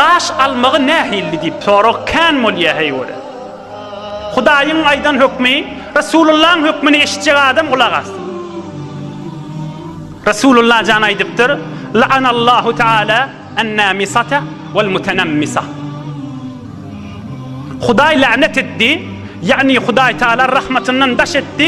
Gaş almagy nähilli diýip sorag kän bolýar heý göre. Hudaýyň aýdan hökmi, Resulullaň hökmini eşitjek adam gulak assyn. Resulullah jan aýdypdyr, La'anallahu Teala en-namisata wal-mutenamisa. Hudaý länet etdi, ýagny Hudaý Teala rahmatyndan daş etdi.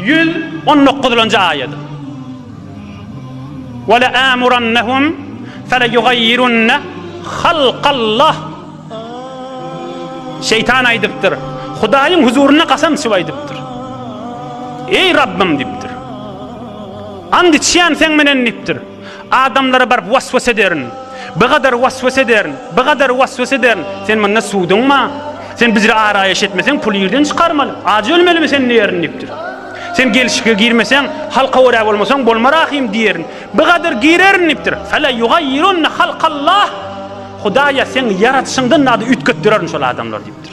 Ýüz on dokuzynjy aýat. Wele amurannahum fele yugayyirunne halkallah. Şeytan aýdypdyr. Hudaýyň huzurynda kasam içip aýdypdyr. Eý Rabbym diýipdir. And içýän sen menen diýipdir. Adamlara baryp was-was ederin. Bigadar was-was ederin. Bigadar was-was ederin. Sen munda suwduňma? Sen bizre araýaş etmeseň, puly ýerden çykarmaly. Ajy ölmelimi sen diýerin diýipdir. Sen gelşike girmeseň, halka görä bolmasaň, bolma rahym diýerin. Bigadar girerin diýipdir. Fele ýugaýyrunne halkallah. Hudaýa seň ýaradyşyňdan zady üýtgetdirerin şol adamlar diýipdir.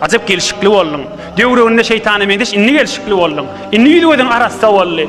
Ajap gelşikli bolduň. Döwrüginde şeýtana meňzeş indi gelşikli bolduň. Indi ýüz-gözüň arassa boldy.